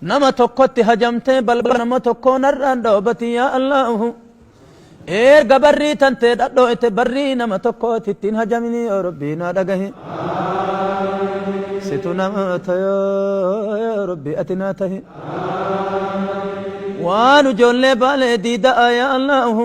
Nama tokkotti hajamtee balbala nama tokkoo narraan dhoobati yaa Allaahu. Eerga barrii tantee dhadhooyte barrii nama tokkooti ittiin hajamini yoo Rabbii naa dhagahi. Situ nama tayoo yaa Rabbii ati naa tahi. Waan ijoollee baalee diida'a yaa Allaahu.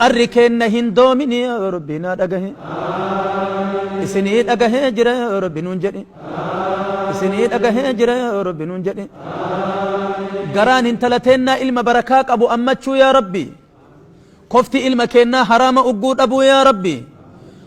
Qarri keenna hin doomini yaa Rabbi naa dhagahi Isinii dhagahee jira yaa Rabbi nuun jedhi Isinii dhagahee jira yaa Rabbi nuun jedhi Garaan hintala teennaa ilma barakaa qabu ammachuu yaa Rabbi Kofti ilma keennaa haraama ugguu dhabuu yaa Rabbi